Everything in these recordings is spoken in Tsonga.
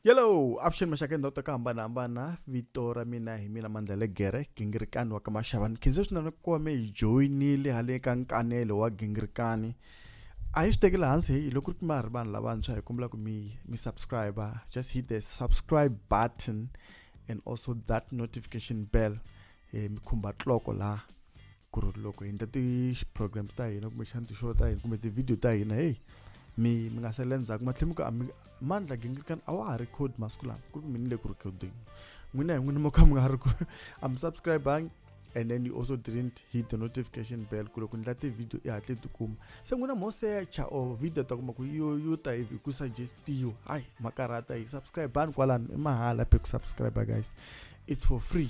yellow avuxeni maxaka endhawu ta ku hambanahambana vito ra mina hi mina mandla legere gingirikani wa ka maxavani khenze swinene ku va me hi joyinile hale ka nkanelo wa gingirikani a yi swi tekeli hansi hi loko ri ma ri vanhu lavantshwa hi kombela ku mi mi subscribe just hit the subscribe button and also that notification bell hi mi khumba tloko laha ku ri loko hi endla ti-programs ta hina kumbexana ti-show ta hina kumbe ti-video ta hina heyi mi mi nga sele ndzhaku matlhelo mi ku ami mandla gingirikani a wa ha ri code masiku lama ku ri mini le ku ri coding n'wina hi n'wini mo kha mi nga ri ku a mi subscribangi and then you also didn't hit the notification bell ku loko ndla ti-video i hatle tikuma se n'wina mo secha or video ta kuma ku yo yo ta hi ku suggestiwa hayi makarhata hi subscribani kwalano i mahala phe ku subscribe guys it's for free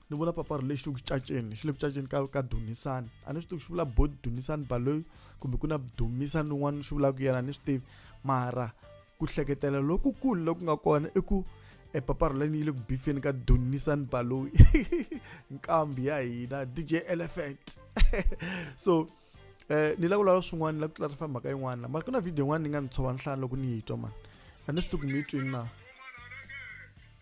ni vula papari lexi ku caceni xi le ku caceni ka ka dumisani a ni swi tivi xi vula body dumisani baloyi kumbe ku na dumisani un'wana swi vulaka yena ni swi tivi mara ku hleketela lokukulu loku nga kona i ku epaparo lani yi le ku bifeni ka dunisani baloyi nkambi ya hina dj elephant so eh ni la ku lava swin'wana ni la ku clarify mhaka yin'wana mara ku na video yin'wana ni nga ni tshova nhlana loko ni yi twa mani a ni swi tivi ku mi yi twini na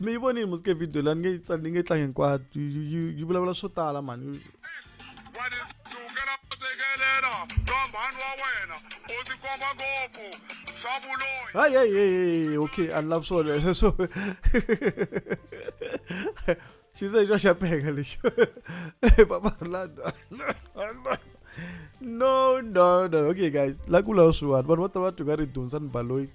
mi yi vonile musike video la ni nge ni nge tlangi hinkwato yi vulavula swo tala mani Hey, hey, hey, hey, okay, I love so. so she said, Josh, I peg Papa Orlando. no, no, no. Okay, guys, lakula oshuat. But what about to get it done? San Baloi.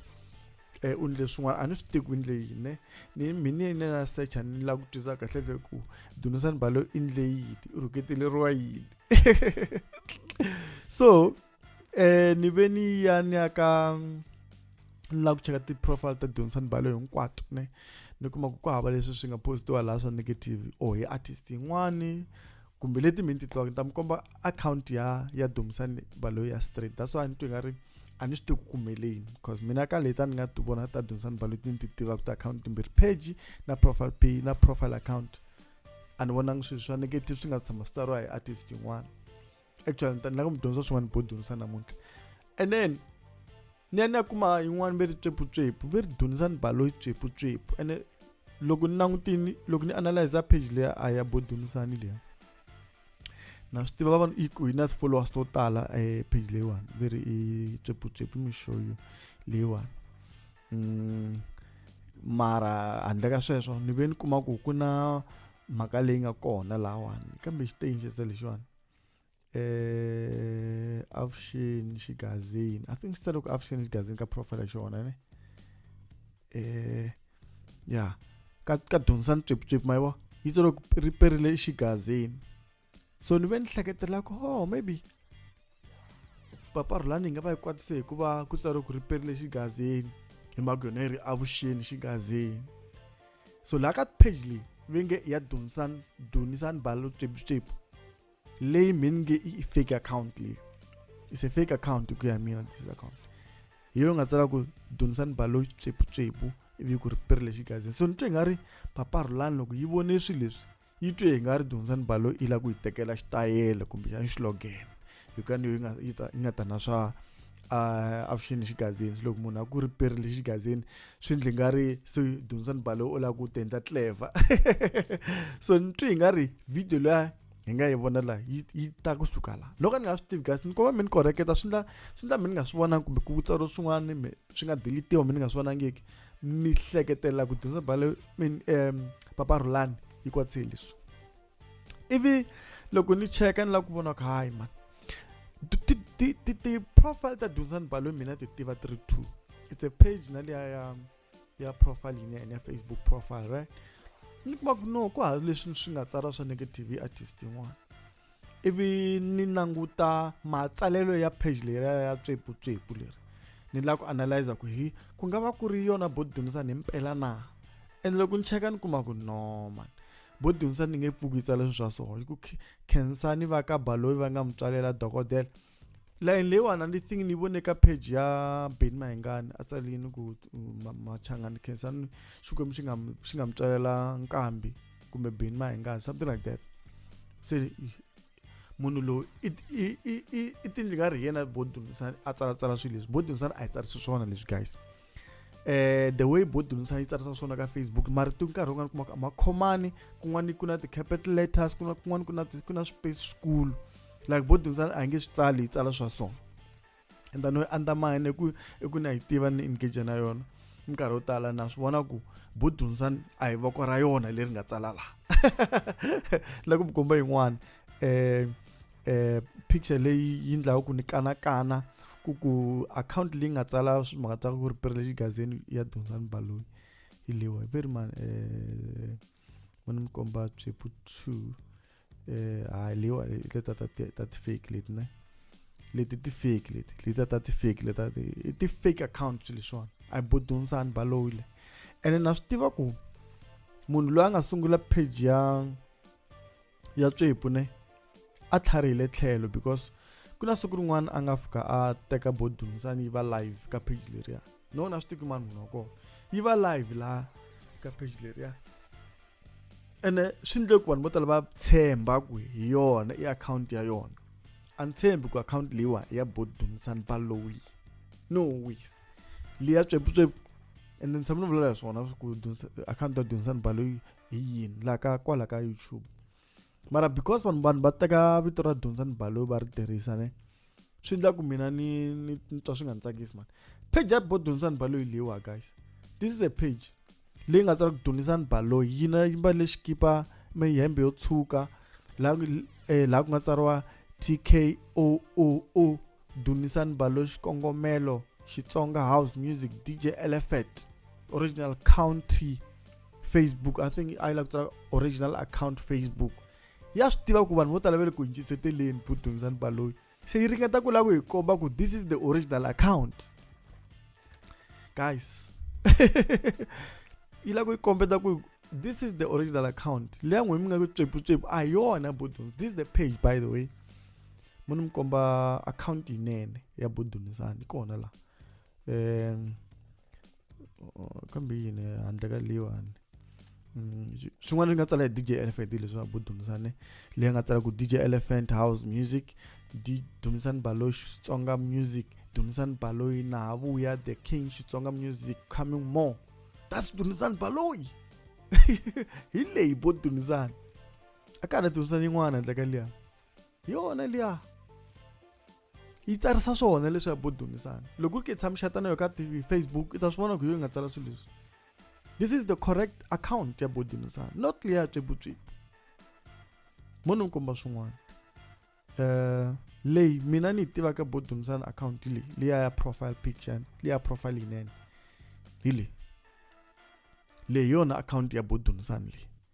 eh, u ni leswin'wana a ni swi tivi ku ndle yini ne ni mina yini na secha ni lava ku twisisa kahle hle ku dunisani balo i ndle yini u rhuketeleriwa yini so eh ni ve ni ya ni ya ka ni lava ku cheka ti-profile ta dunisani balo hinkwato ne ni kuma ku ku hava leswi swi nga postiwa laha swa negative or hi artist yin'wani kumbe leti mi ni ti tivaka ni ta mi komba akhawunti ya ya dumisani baloyi ya straight that's why ni twi nga ri a ni swi tivi ku kumeleni because mina ka leta ni nga ti vona ta dumisani baloyi ti ni ti tivaka ti akhawunti timbirhi page na profile pay na profile account a ni vonangi swilo swa negative swi nga tshama swi tsariwa hi artist yin'wana actually ni ta ni lava ku mi dyondza swin'wana bo dumisani namuntlha and then ni ya ni ya kuma yin'wana ve ri tswepfutswepfu ve ri dunizani baloyi tswepfutswepfu ene loko ni langutini loko ni analyze page leya a ya bo dunisani leya na swi tiva vanhu ku yi na ti-followers to tala e page leyiwani ve ri i tswepfutswepfu mixoyo leyiwani mm, mara handle ka sweswo ni ve ni kuma ku ku na mhaka leyi nga kona lahawani kambe xitenjesa lexiwani eh avuxeni xigazini i think sitale ku avuxeni xigazini ka profile xona ne eh ya ka ka dyondzisani tswipitswipi mayivo yi tsale ku ri perile xigazini so ni ve ni hleketela ku ho oh, maybe papa rhulani yi nga va yi kwatise hikuva ku tsariwe ku ri perile xigazini hi mhaka yona yi ri avuxeni xigazini so laha ka page leyi ve nge ya dunisani dunisani balo tswipitswipi leyi mhini nge i fake account leyi is a fake account hi ku ya mina this account hi yo nga tsala ku donisani balo tsweputsepu ivi ku ri piri lexi gazini so ni twe nga ri papa rhulani loko yi vone swilo leswi yi twe hi nga ri donisani balo yi lava ku yi tekela xitayele kumbe xa xilogene hi ku yaniyo yi nga yi ta yi nga ta na swa avuxeni lexi gazini loko munhu a ku ri piri lexi gazini swi ndli nga ri so donisani balo u lava ku tendla clever so ni twe hi nga ri video leya hi nga yi vona la yi yi ta ku suka la loko ni nga swi tivi guys ni komba mi ni koreketa swi ndla swi ndla mi ni nga swi vonangi kumbe ku tsariwa swin'wana mi swi nga deletiwa mi ni nga swi vonangiki mi hleketela ku dyondza bale min um papa rhulani yi kwatsile leswi ivi loko ni cheka ni lava ku vona ku hayi mani ti-profile ta dyondzani balo mina ti tiva ti ri two it's a page na liya ya ya profile yini and ya facebook profile right ni kuma ku no ku ha leswi swi nga tsara swa negative artist yin'wana ivi ni languta matsalelo ya page leri ya tswepu tswepu leri ni la ku analyzer ku hi ku nga va ku ri yona bo dyondzisa ni mpela na and loko ni cheka ni kuma ku no man bo dyondzisa ni nge pfuki yi tsala sweswa swona hi ku khensa ni va ka baloyi va nga mutswalela dokodela line leyiwani ni think ni vone ka page ya ben mahingani a tsalini ku machangani khensani xikwembu xi nga xi nga mi tswalela nkambi kumbe ben mahingani something like that se munhu loyi i tindli nga ri hi yena bo dumisani a tsalatsala swilo leswi bo dumisani a hi tsarisi swona leswi guys eh the way bo dumisana yi tsarisa swona ka facebook marito nkarhi wun'wana kuma makhomani kun'wana ku na ti-capital letters kuna kun'wana ku na ku na space school like bo dumisana a hi nge swi tsali yi tsala swa so and then yi andamine ku i ku na yi tiva ni engage na yona minkarhi yo tala na swi vona ku bo dumisana a hi voko ra yona leri nga tsala laha la ku mi komba yin'wana um eh picture leyi yi ndlaku ku ni kanakana ku ku account leyi nga tsala swimhaka ta ku ri privilege gazini ya dunzani baloyi hi lewa hi veri mani eh mani mi komba tswepu two eh ha lewa le ta ta ta ti fake leti ne leti ti fake leti leti ta ti fake leta i ti fake accounts leswiwani a bo dunzani baloyi le ene na swi tiva ku munhu loyi a nga sungula page ya ya tswepu ne a tlharihile tlhelo because ku na siku rin'wana a nga fika a teka bodum sani yi va live ka page leriya no na swi tiki mani munhu wa kona yi va live laha ka page leriya ene swi ndle ku vanhu vo tala va tshemba ku hi yona i akhawunti ya yona a ni tshembi ku akhawunti leyiwa ya bodum sani balowi no wis leya tsweputswepu ende ni tshama ni vulela hi swona ku akhawunti ya dunsan baloyi hi yini la ka kwala ka youtube mara because vanhu vanhu va teka vito ra dyondza ni baloyi va ri tirhisa ne swi endla ku mina ni ni twa swi nga ni tsakisi mani page ya bo dyondza ni baloyi leyiwa guys this is a page leyi nga tsala ku dyondzisa ni baloyi yi na yi mbale xikipa mihembe yo tshuka laha eh, laha ku nga tsariwa t k o o o Dumisani Balo Xikongomelo Xitsonga House Music DJ Elephant Original County Facebook I think I like to original account Facebook ya swi tiva ku vanhu vo tala va le ku yingiseteleni ku Dumisani Baloyi se yi ringeta ku lava ku hi komba ku this is the original account guys yi lava ku yi kombeta ku this is the original account leya n'wina mi nga ku tsweputsepu a yona budo this is the page by the way mo ni mi komba akhawunti yinene ya bodumisani kona la um kambe yini handle ka leyiwani mm, swin'wana swi nga tsala hi dj elephant leswi a bodumisane leyi nga tsala ku dj elephant house music dumisani baloyi xitsonga music dumisani baloyi naha vuya the king xitsonga music coming more that's dumisani baloyi hi leyi bo dumisani a ka ha na dumisani yin'wana handle ka liyani hi yona liya yi tsarisa swona leswi ya bodomisana loko ri ke tshami xatana yo ka tv facebook i ta swi vona ku yo yi nga tsala swilo leswi this is the correct account ya bodomisana not liya ya tswebutswebu mo ni mi komba swin'wana um leyi mina ni yi tivaka bodomisana account leyi liya ya profile picture liya profile yinene hi leyi leyi yona account ya bodomisana leyi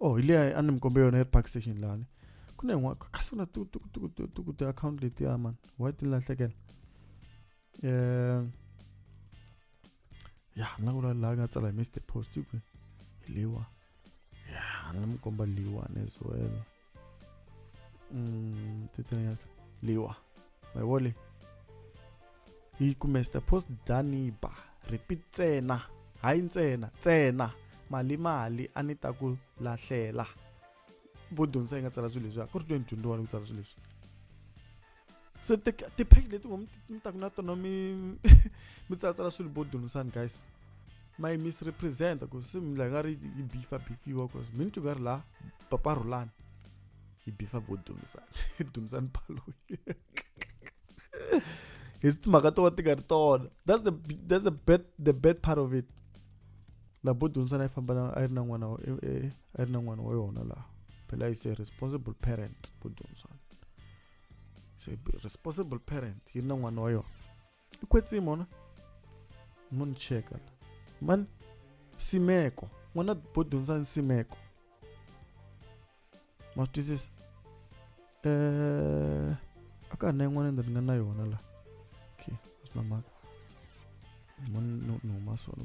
oh hi liya a ni mi kombe yona yi ri park station lani ku na yin'wana kasi ku na tukutukutukutuku tiakhawunti letiya mani why ti ni lahlekela um ya ni la ku la laha nga tsala hi mr post hi kwihi hi liwa ya ni la mi komba liwani as well um mm, titanyaka liwa mayivole yi kume sita post daniba repeat ntsena hayi ntsena ntsena mali mali a ni ta ku lahlela vo dyondzisa yi nga tsala swilo leswi a ku ri tweni dyondzo wani ku tsala swilo leswi se ti-page leti vo mi taku na tona mi mi tsalatsala swilo vo dyondzisani guys my misrepresenta ku se mi la nga ri yi bifa bifiwa cause mi ni ti nga ri laha paparhulani i bifa vo dumzan dumzan baloyi hi timhaka to ti nga ri tona that's the that's the bad the bad part of it la bo dumzan a yi famba a yi ri na n'wana e, e, a yi ri na n'wana wa yona laha phela is a responsible parent bo dumzan so responsible parent yi ri na n'wana wa yona tikwetsimi mona mo ni cheka la mani simeko n'wana bo dyondza nsimeko ma swi twisisa um eh, a ka ha na yin'wana endla ni nga na yona la okay a swi na mhaka ni huma sona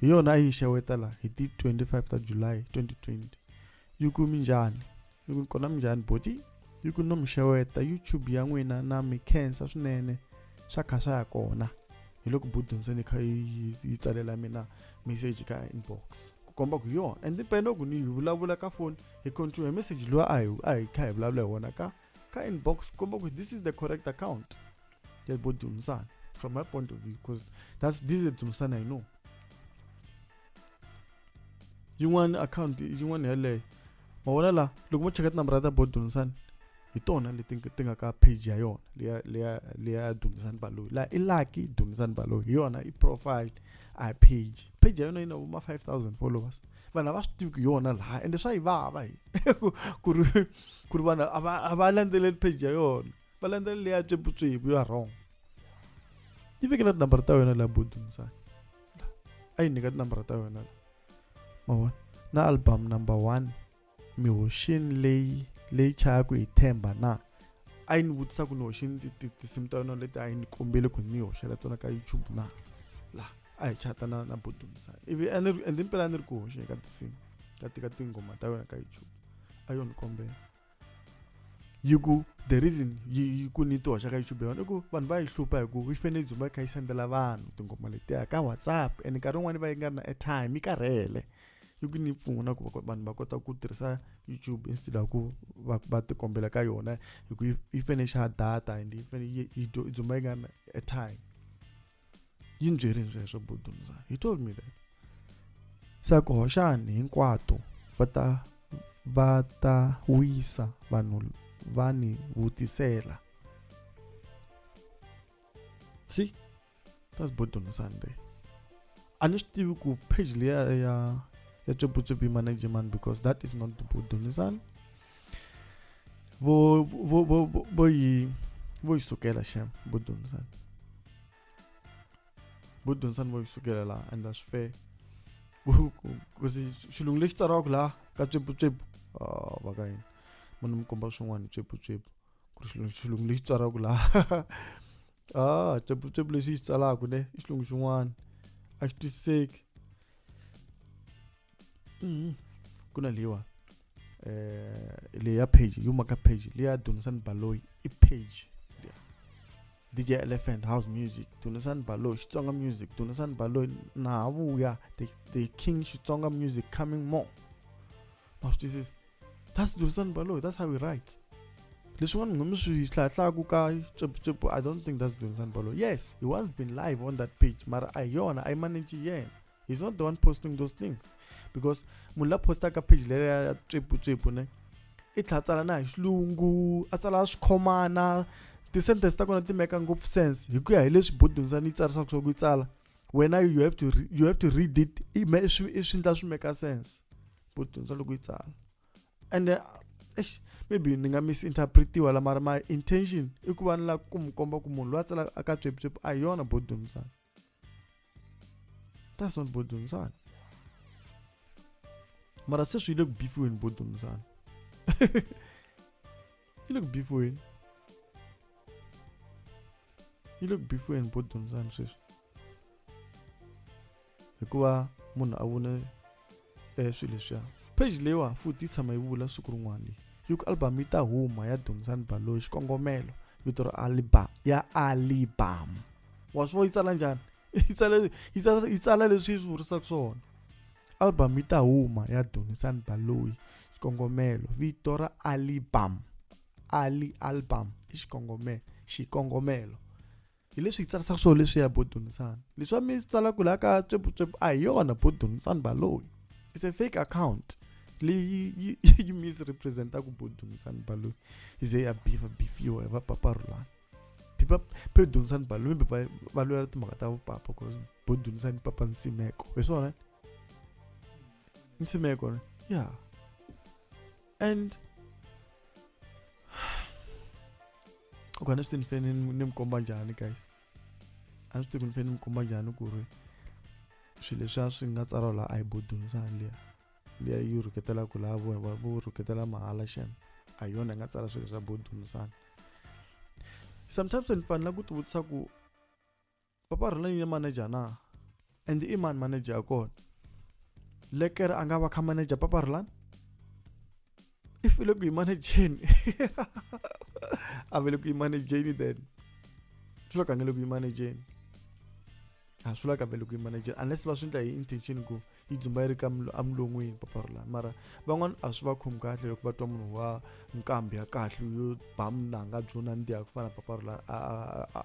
hi yona a yi xewetela hi ti 25 ta july 2020 yi ku minjhani yi ku kona minjhani boti yi ku no mi xeweta youtube ya n'wina na mi khensa swinene swa kha swa ya kona hi loko budonseni kha yi tsalela mina message ka inbox ku komba ku yona and pena ku ni hi vulavula ka foni hi control hi message loyi a hi a hi kha hi vulavula hi wona ka ka inbox komba kuti this is the correct account yebodhumusana from my point of view because that's this is dhumusana i know yin'wana account yin'wana yeleyo ma vona la loko mo cheka tinambara ta bodhumusana hi tona leti ti nga ka page ya yona leya leya leya dumisani baloyi la i lucky dumisani baloyi hi yona i profile a hi page page ya yona yi na vo ma 5000 followers vanhu a va swi tivi ku yona laha ende swa yi vava hi ku ku ri ku ri vanhu a va a va landzeleli page ya yona va landzelela leya tswiputsuhipu ya wrong yi fikela tinambara ta yona laha bodumisani a yi nyika tinambara ta yona la ma vona na album number one mi hoxini leyi leyi chayaka hi themba na a yi ni vutisa ku ni hoxini tinsimu ta yona leti a yi ni kombele ku ni hoxela tona ka youtube na laha a hi chata na na bodusa ivi ende mpela a ni ri ku hoxe ka tinsimu ka tika tinghoma ta yona ka youtube a yo ni kombela yi ku the reason yi ku ni ti hoxa ka youtube yona i ku vanhu va yi hlupha hi ku yi fanele yi dzumba yi kha yi sendela vanhu tinghoma letiya ka whatsapp and nkarhi wun'wani va yi nga ri na airtime yi karhele yi ku ni pfuna ku vanhu va kota ku tirhisa youtube instead of ku va va tikombela ka yona hi ku yi fanele xa data and yi fanele yi yi dzumba yi nga na airtime yi ni byerini sweswo budumza he told me that se ku hoxani hinkwato va ta va ta wisa vanhu va ni vutisela si that's both on sunday a ni swi tivi ku page leya ya ya tsweputsepi management because that is not bodonisana vo vo vo vo yi vo yi sukela shem bodonisana bodonisana vo yi sukela laha and that's fair kasi xilungu lexi tsariwaka laha ka tsweputsepu va ka yini munhu mi komba swin'wana tsweputsepu ku ri xilungu xilungu lexi tswalaka laha ah cepucepu lexi xi tsalaka ne i xilungu xin'wana a xi twisiseki mm-hmm. ku na leyiwa eh leyi ya page yi humaka page leyi ya dunisani baloyi i page dj elephant house music dunisani baloyi xitsonga music dunisani baloyi na ha vuya the, the king xitsonga music coming more ma swi twisisa that's durisani baloyi that's how he writes leswin'wana mi nga mi swi hlayahlayaku ka cepucepu i don't think that's durisani baloyi yes he was been live on that page mara a hi yona a yi manage yena he's not the one posting those things because munhu la postaka page leyo ya cepucepu ne i tlha tsala na hi xilungu a tsala swikhomana ti-sentence ta kona ti meka ngopfu sense hi ku ya hi leswi bodunzani yi tsarisaka swa ku yi tsala wena you have to you have to read it i swi ndla swi make sense ku dyondza loko yi tsala and uh, maybe ni nga misinterpretiwa la mara my intention i ku va ni lava ku mi komba ku munhu loyi a tsalaka aka tswepitswepi a hi yona bodumsana that's not bodumsana mara sweswi yi le ku bifiweni bodumsana You look beautiful in. You look beautiful in both them and sis. Hikuva munhu a vone eh, swilo leswiya page leyiwa futhi yi tshama yi vula siku rin'wana leyi yi ku album yi ta huma ya dumzani baloyi xikongomelo vito ra alibam ya alibam wa swi vo yi tsala njhani yi tsala yi tsala yi tsala leswi yi swi vurisaka swona Album yi ta huma ya Donisan Baloyi xikongomelo vito ra Alibam Ali Album i xikongomelo xikongomelo hileswi hi tsarisaka swona leswiya bo Donisan leswi mi tsalaka laha ka tswepfutswepfu a hi yona bo Donisan Baloyi it's a fake account leyi yi yi misrepresentaka bo Donisan Baloyi yi ze ya bifa bifiwa hi va Papa Rhulani Papa Donisan Baloyi va va lwela timhaka ta vupapa cause bo ni dyondzisa ni papa nsimeko hi swona nsimeko ne ya and u ka ni swi ti ni fane ni mi komba njhani guys a ni swi ti ku ni fane ni mi komba njhani ku ri swilo leswiya swi nga tsariwa laha a yi bodunzani liya liya yi rhuketelaka laha vona va vo rhuketela mahala xana a hi yona yi nga tsala swilo swa bodunzani sometimes ni fanela ku ti vutisa ku papa rhula yini manager na and i mani manager ya kona lekere a nga va kha manager papa rhulani i file ku yi manejeni a vele ku yi manejeni then swi la ka nge le ku yi manejeni a swi la ka vele ku yi manejeni unless va swi endla hi intention ku yi dzumba yi ri ka emulon'wini papa rhulani mara van'wana a swi va khomi kahle loko va twa munhu wa nkambi ya kahle yo ba munanga byo nandziha ku fana papa rhulani a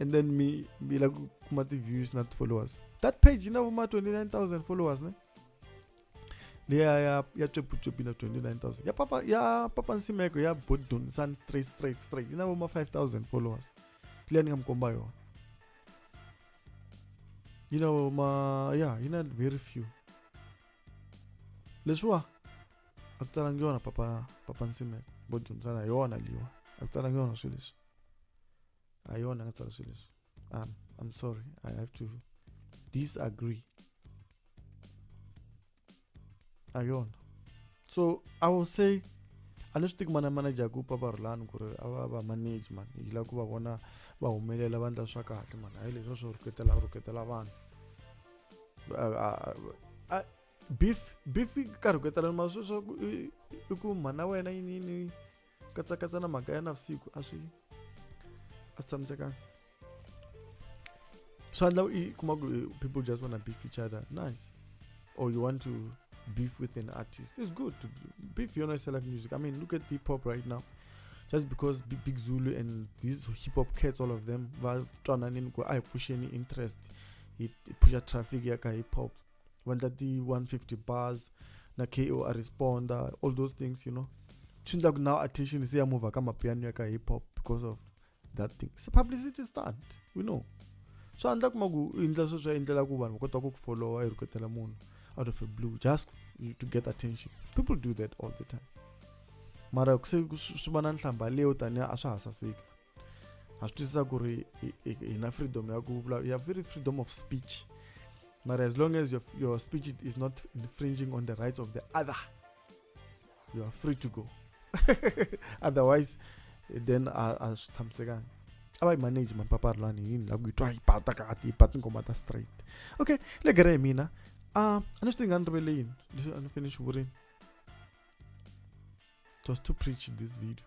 and then mi mi la ku kuma ti-views na ti-followers that page yi na vuma 29000 followers ne leya ya ya tsweputswepi na 29000 ya papa ya papa nsimeko ya bodon san straight straight straight yi na vuma 5000 followers leya ni nga mi komba yona yi na vuma ya yi na very few leswiwa a ku talangi yona papa papa nsimeko bodon san a yona liwa a ku talangi yona swilo leswi a yona nga tsala swilo leswi um, i'm sorry i have to disagree a yona so i will say a ni swi tiki mana manager ku papa rulani ku ri a va va manage mani yi lava ku va vona va humelela va ndla swa kahle mani hayi leswi swo rhuketela rhuketela vanhu beef beef yi karhi ku etelana mara sweswaku i ku mhana wena yini yini katsakatsa na mhaka ya navusiku a swi a swi tshamisekanga swa endla i kuma ku eh, people just wanna beef each other nice or you want to beef with an artist it's good to beef your nice select music i mean look at hip hop right now just because big, big zulu and these hip hop cats all of them va twananini ku a hi pfuxeni interest hi pusha traffic ya ka hip hop va endla ti-150 bars na ko a responda all those things you know swi endla ku now attention se ya mova ka mapiano ya ka hip hop because of that thing se publicity stunt we know swa endla kuma ku u endla sweswo ya endlela ku vanhu va kota ku ku followa i rhuketela munhu out of a blue just to get attention people do that all the time mara se swi va na nhlamba leyo tanihi a swa ha saseki ha swi twisisa ku ri hi na freedom ya ku vulavula ya very freedom of speech mara as long as your, your speech is not infringing on the rights of the other you are free to go otherwise then a swi tshamisekanga a va yi manage mampapari lani yini la ku yi twa yi bata kati yi bata ngoma ta straight okay le gere hi mina a a ni swi tinga ni rivele yini leswi a ni fane ni swi vurini it was to preach this video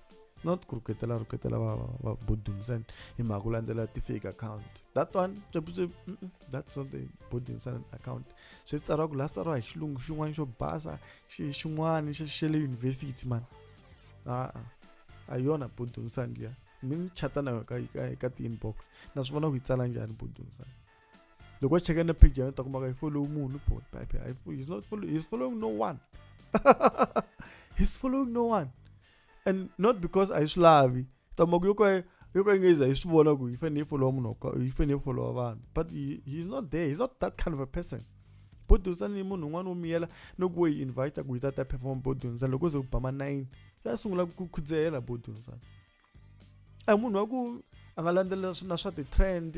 not ku rhuketela rhuketela va va body ntsena hi mhaka ku landzela ti-fake account that one capuse that's not the body ntsena account swi tsariwa ku la tsariwa hi xilungu xin'wana xo basa xi xin'wana xa xa le university man a-a ah, ah. a yona body ntsena liya mi ni chata na ka ka ka ti-inbox na swi vona ku yi tsala njhani body ntsena loko xi cheka na page ya yona ta kumaka yi follow munhu boy pipe he's not follow he's following no one he's following no one and not because a yi swi lavi ta mhaka yo ka yo ka yi nga yiza hi swi vona ku yi fanele yi followa munhu yi fanele yi followa vanhu but he, he's not there he's not that kind of a person bo dyondzisana ni munhu un'wana wo miyela no ku wo yi invita ku yi ta ta perform bo dyondzisana loko se ku ba ma nine ya sungula ku khudzehela bo dyondzisana a munhu wa ku a nga landzelela na swa ti-trend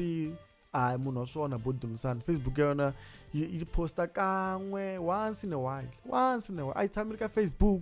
a munhu wa swona bo dyondzisana facebook ya yona yi posta kan'we once in a while once in a while a yi tshameli ka facebook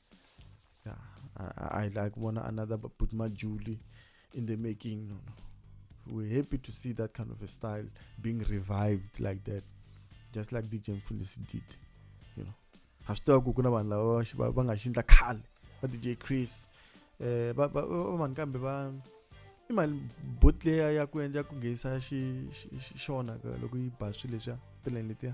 Yeah, I, I like one another but put my Julie in the making. No, no. We're happy to see that kind of a style being revived like that, just like DJ Mfundisi did. You know, I've still got kuna vanhu lava va- va- va nga xindla khale va DJ Chris eh va va va- vanhu kambe va i mali botleya ya ku endla ku nghenisa xi xi- xi- xona ka- loko yi ba swilo leswiya tileni letiya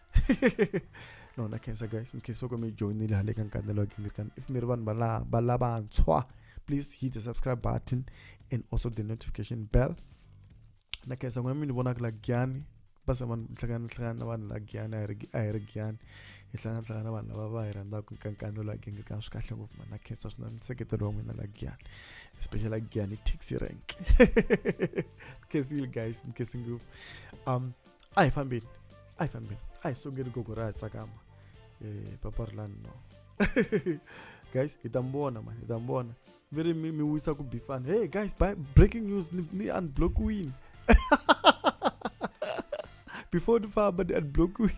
no na cancer guys in case okome joinile hale ka nkane lo gimir kan if mere vanhu bala bala bantshwa please hit the subscribe button and also the notification bell na cancer ngwana mini bona kula gyani basa vanhu hlangana hlangana na vanhu la gyani a hi ri gyani hi hlangana hlangana na vanhu lava va hi rhandzaka ka nkane lo gimir kan swi kahle ngopfu mana cancer swinene nseketelo wa n'wina la gyani especially like gyani taxi rank nkesile guys nkesi ngopfu um a hi fambeni a hi fambeni a hi songeli gogo ra ya tsakama eh, papa ri lani no guys hi ta mi vona mani hi ta mi vona mi ri mi mi wisa ku bifana hey guys by breaking news ni, ni unblock wini before ni famba ni unblock wini